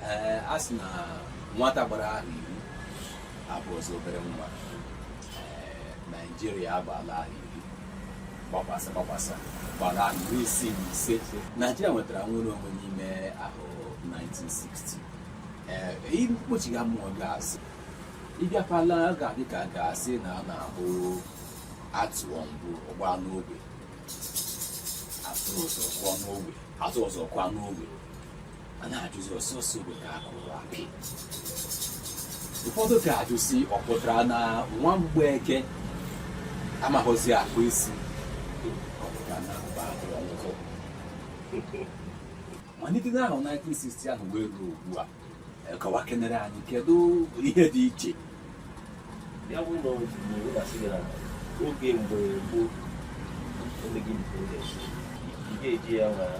ee a sị na nwata gbara ahọ iri abụghịzi obere nwa ee naijiria agbaala ahọ iri gbakwasa gbakwasa gbara ahọ iri isii na ise naijiria nwetara nwere onwe n'ime ahọ 1960 ee ihe mkpochiga mmụọ ga-asị ịbịakwala ga-adị ka a ga-asị na ọ na-abụ a tụọ mbụ ọ gbaa n'ogwe a tụọ ọzọ kwa n'ogwe a na-ajụzi ọ sọsọ ogwe ka akụrụ apị ụfọdụ ka ajụzi ọ pụtara na nwa mgbeke amaghịzi akpụ isi malite n'ahọ 1960 ahụ wee ruo ugbu a e, kọwakenere anyị kedu ihe dị iche ya bụ na oge mgbe gboo ga-eji ya nwara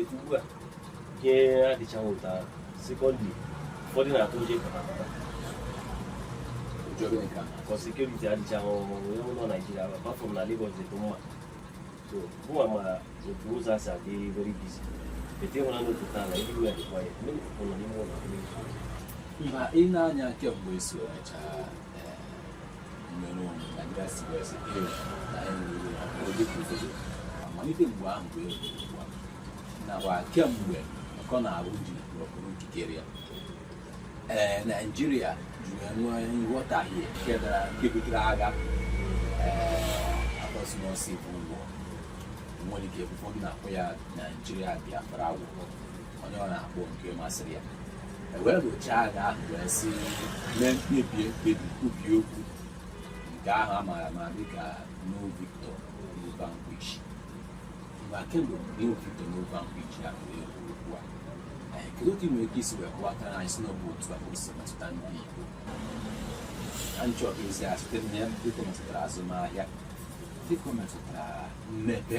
ugbu a ihe adịchaghị ụta sekọndị ụfọdụ na-atụ ụjọ ịpụta ka sekuriti adịchaghị ọhụrụ ewu nọ naijiria bafọ m na Lagos dị mma so mụnwa ma otu ụzọ asị adị very busy ete nwere n'otu taa na ndị ụlọ dịkwa ya ndị nọ n'ime ụlọ mba ị na-anya kemgbe isi emecha malite mgbe ahụ bụ nakwa kemgbe colonial rule ji rọpụrụ ikikere ya ee naijiria jiri nwee nghọtahie nke dara nke butere agha a kpọrọ civil war nwere ike ụfọdụ na-akpọ ya naijiria biafra war onye ọ na-akpọ nke masịrị ya e wee lụchaa agha ahụ wee sị mee mkpebi mkpebi kwubie okwu nke ahụ a maara ama dịka no victor no vanquish mgbe kemgbe no victor no vanquish ya bụ egwu okwu a ee kedu otu nwere ike isi wee kọwata na anyị sị na ọ bụ otu a o si metụta ndị igbo na nchọ ezi a site na ya dịka o metụtara azụmahịa dịka o metụtara mmepe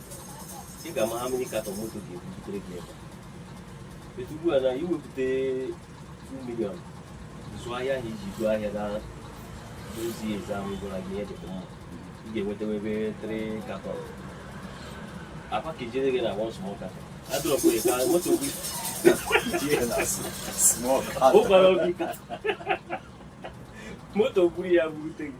ị ga-ama how many carton moto ga-ebutere gị ebe etu ugbu a na i wepụta 2 million zụọ ahịa ahụ iji zụọ ahịa na ozi eze ahụ gwara gị ihe dịkwa mma ị ga-enwetawa ebe 3 carton akpa ka ejere gị na one small carton a dropụ ya ka moto gị ụkwara obi ka moto buru ya burute gị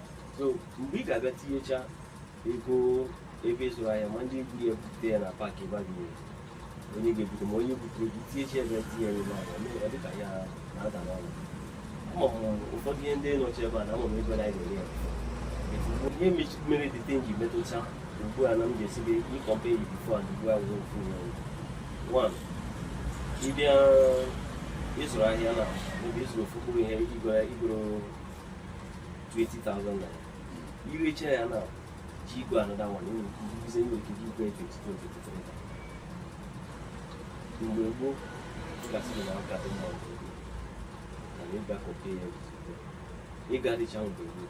so mgbe ị ga-abịa tinyecha ego ebe ị zụrụ ahịa ma ndị buru ya bute ya na park ebe a ga-ere onye ga-ebute ma onye butere gị tinyecha ebe tinye ya ebe ahụ mee ọ dị ka ya na-ada n'ọnụ ama m ụfọdụ ihe ndị nọchi ebe a na ama m ebe na anyị na-ere ya ihe mechi- mere the thing ji metụta ugbu a na m ga-asị gị ị compare ya before and ugbu a wụrụ ofu ihe ọnụ. one ị bịa ị zụrụ ahịa na ebe ị zụrụ ofu mkpụrụ ihe i goro i goro 20,000 naira i recha ya na ji igwe another one nwere ike ibuzi nwere ike ji igwe 22 mgbe gboo ga-asị na ọ ka dị mma mgbe gboo na ị ga-compare ya ịga dịcha mgbe gboo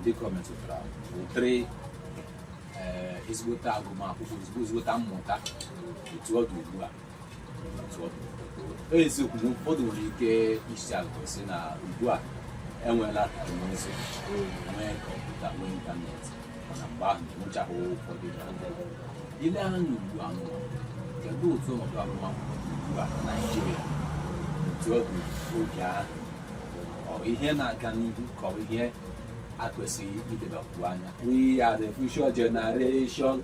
ndị kọmetụtara ụtịrị ezigbote agụmakwụkwọ ezigbote mmụta etu ọ dị ugbu a eziokwu na ụfọdụ nwere ike isi akụ si na ugbu a enweela teknụzụ nwee kọmputa nwee ịntanetị mana mgbe ahụ enwechaghị ụfọdụ ihe ndị ọzọ. i lee anya ugbu a n'ụwa kedu otu ọnọdụ agụmakwụkwọ dị ugbu a na naijiria otu ọ dị oge ahụ ọ bụ ihe na-aga n'ihu ka ọ bụ ihe a kwesịrị ilebakwu anya We are the future generation.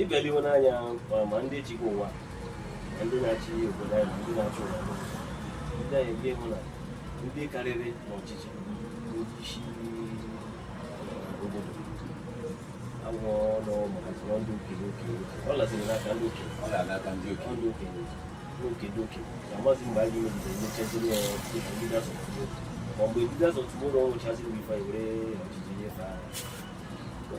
ị bịa lewe anya ma ndị ji ụwa ma ndị na-achị obodo anyị ndị na-achị ụwa ndị anyị bịa ị hụ na ndị karịrị n'ọchịchị isi obodo agwọ ọnụ maka tụrụ ndị okenye okenye ọ laziri n'aka ndị okenye ọ ga-alaka ndị okenye ndị okenye n'oke dị okenye amazị mgbe anyị megide nyechaziri ya dịka ndị dasọ ma mgbe ndị dasọ tụmụrụ ọnwụchaziri bụ ife anyị were ọchịchị nyefe agha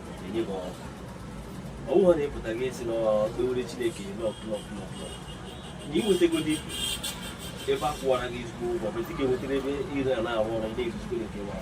e nye gị ọrụ ọ bụghị na ị pụta gị esi n'okpewere chineke nọkụnọkụnọkụ na i nwetagodi ebe a kwụwara gị ezigbo ụgwọ bụ ị ga-enwetara ebe ị na-arụ ọrụ ndị ezigbo nke nwa